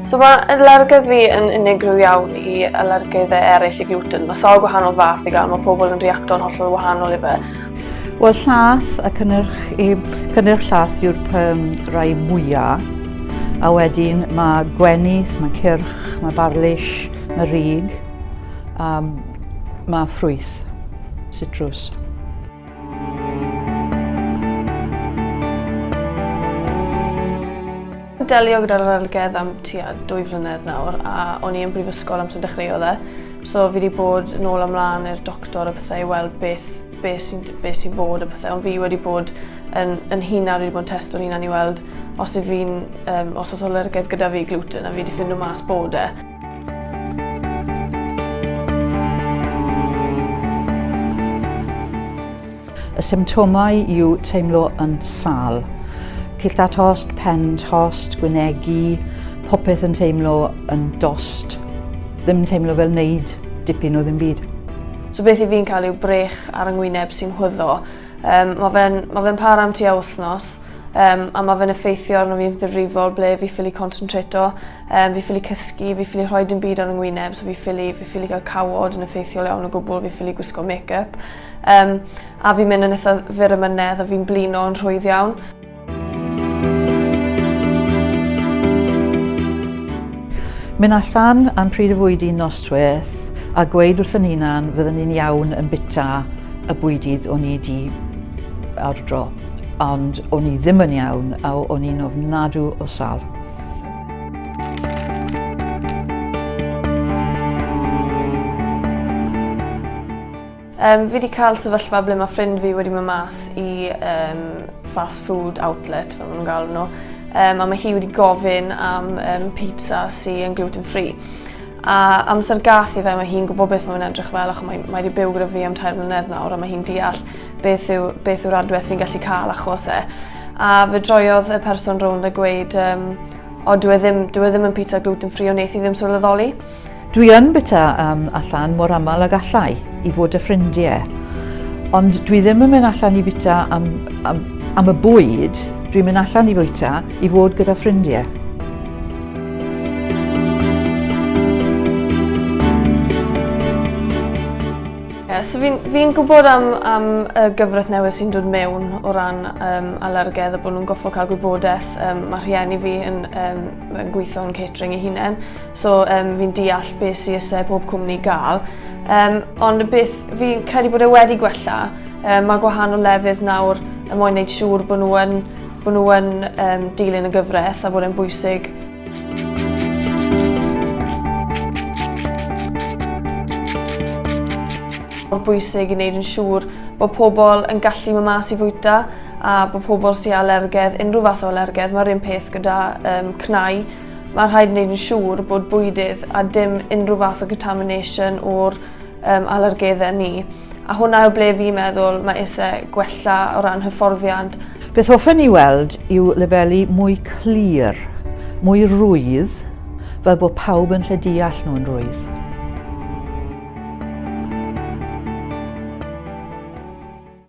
So mae alergydd fi yn unigryw iawn i alergydd eraill i gluten. Mae sawl gwahanol fath i gael, mae pobl yn reacto'n hollol wahanol i fe. Wel, llas a cynnyrch, i, cynnyrch llas yw'r um, rai mwyaf. A wedyn mae gwenis, mae cyrch, mae barlish, mae rig. a mae ffrwyth, citrus. delio gyda'r arolygedd am tua dwy flynedd nawr a o'n i yn brifysgol amser dechreuodd e. So fi wedi bod yn ôl amlaen i'r doctor a pethau i weld beth, beth sy'n be sy bod a pethau. Ond fi wedi bod yn, yn hunan, wedi bod yn testo'n hunan i weld os yw fi'n, um, os oes alergedd gyda fi gluten a fi wedi ffindo mas bod e. Y symptomau yw teimlo yn sal. Cill da tost, pen tost, gwynegu, popeth yn teimlo yn dost. Ddim yn teimlo fel wneud dipyn o ddim byd. So beth i fi'n cael yw brech ar yngwyneb sy'n hwyddo. Um, mae fe'n ma fe para am tua wythnos. Um, a mae fe'n effeithio arno fi yn ddifrifol ble fi ffili concentrato, um, fi ffili cysgu, fi ffili rhoi dim byd ar yng ngwyneb, so fi ffili, fi ffili cael cawod yn effeithiol iawn o gwbl, fi ffili gwisgo make-up. Um, a fi'n mynd yn eitha fyr y mynedd a fi'n blino yn rhwydd iawn. Mynd allan am pryd y fwyd i'n nosweth a gweud wrth yn hunan fyddwn ni'n iawn yn bita y bwydydd o'n i wedi awdro. ond o'n i ddim yn iawn a o'n i'n ofnadw o sal. Um, fi wedi cael sefyllfa ble mae ffrind fi wedi mynd mas i um, fast food outlet, fel maen nhw'n gael nhw, um, a mae hi wedi gofyn am um, pizza sy'n yn gluten free. A amser gath i fe, mae hi'n gwybod beth mae'n edrych fel, ac mae, mae wedi byw gyda fi am tair mlynedd nawr, a mae hi'n deall beth yw, beth yw'r adwaith fi'n gallu cael achos e. A fe droiodd y person rownd a gweud, um, o dwi e ddim, dwi e ddim yn pita gluten free o wneith i ddim sylweddoli. Dwi yn bita um, allan mor aml ag allai i fod y ffrindiau. Ond dwi ddim yn mynd allan i bita am, am, am y bwyd, dwi'n mynd allan i fwyta i fod gyda ffrindiau. Yeah, so fi'n fi gwybod am, am y gyfraith newydd sy'n dod mewn o ran um, alergedd a bod nhw'n goffo cael gwybodaeth. Um, mae rhieni fi yn, um, yn gweithio yn catering ei hunain, so um, fi'n deall beth sy'n ysau pob cwmni gael. Um, ond beth fi'n credu bod e wedi gwella, um, mae gwahanol lefydd nawr yn mwyn wneud siŵr bod nhw'n nhw um, dilyn y gyfraith a bod e'n bwysig Mae'n bwysig i wneud yn siŵr bod pobl yn gallu mynd mas i fwyta a bod pobl sy'n alergedd, unrhyw fath o alergedd, mae'r un peth gyda um, cnau. Mae'n rhaid wneud yn siŵr bod bwydydd a dim unrhyw fath o contamination o'r um, alergeddau ni. A hwnna yw ble fi'n meddwl mae ise gwella o ran hyfforddiant. Beth hoffen ni weld yw labeli mwy clir, mwy rwydd, fel bod pawb yn lle deall nhw'n rwydd.